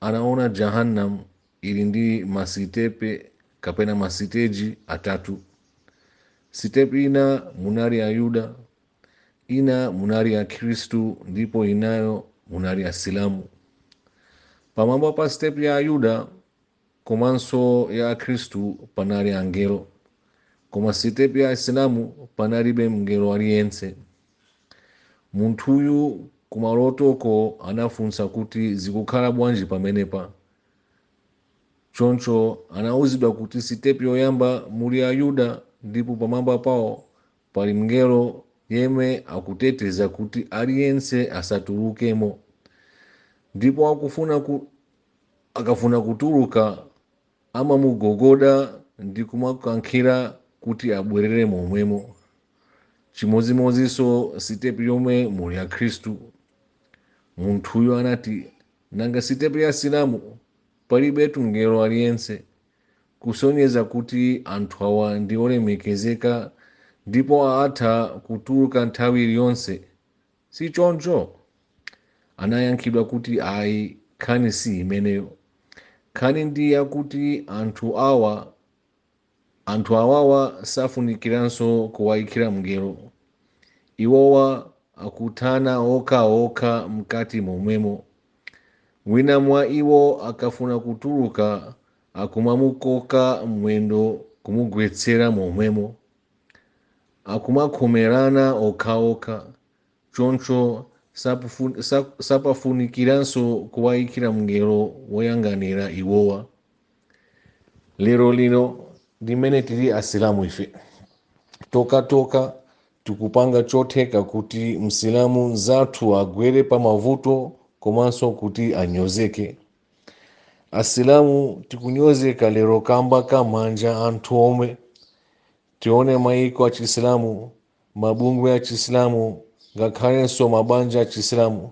Anaona Jahannam ili ndi masitepe kapena masiteji atatu. Sitepi ina munali Ayuda, ina munali Akhristu ndipo inayo munali Asilamu. Pamwamba pa sitepi ya Ayuda komanso ya Akhristu panali angelo, koma sitepi ya Asilamu panalibe mngelo aliyense. Munthuyu kumalotoko anafunsa kuti zikukhala bwanji pamenepa. Choncho anauzidwa kuti sitepi yoyamba muli Ayuda ndipo pamwamba pawo pali mngelo yemwe akuteteza kuti aliyense asatulukemo. Ndipo akufuna ku, akafuna kutuluka Amamugogoda ndi kumakankhira kuti abwerere momwemo. Chimodzimodzinso sitepi yomwe muli Akhristu. Munthuyo anati, Nanga sitepi ya Asilamu? Palibetu mngelo aliyense. Kusonyeza kuti anthu awa ndi olemekezeka ndipo atha kutuluka nthawi iliyonse si choncho? Anayankhidwa kuti, Ayi, nkhani si imeneyo. Nkhani ndi yakuti anthu awa, anthu awawa safunikiranso kuwaikira mngelo. Iwowa akuthana okhaokha mkati momwemo. Wina mwa iwo akafuna kutuluka akumamukoka mwendo kumugwetsera momwemo. akumakhomerana okhaokha choncho sapufu- sa- sapafunikiranso kuwayikira mngelo woyang'anira iwowa lero lino limene tili asilamu ife tokhatokha tikupanga chotheka kuti msilamu mzathu agwere pa mavuto komanso kuti anyozeke asilamu tikunyozeka lero kamba ka manja athu omwe tione maiko achisilamu mabungwe achisilamu ngakhalenso mabanja achisilamu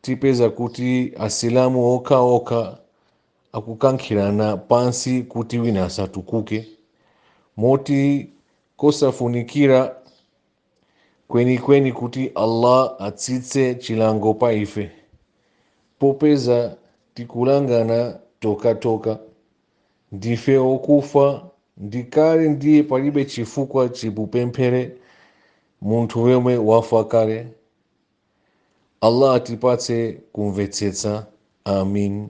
tipeza kuti asilamu okhaokha akukankhirana pansi kuti wina asatukuke moti kosafunikira kwenikweni kuti allah atsitse chilango pa ife popeza tikulangana tokhatokha ndife okufa ndi kale ndiye palibe chifukwa chipupemphere munthu yemwe wafa kale allah atipatse kumvetsetsa amin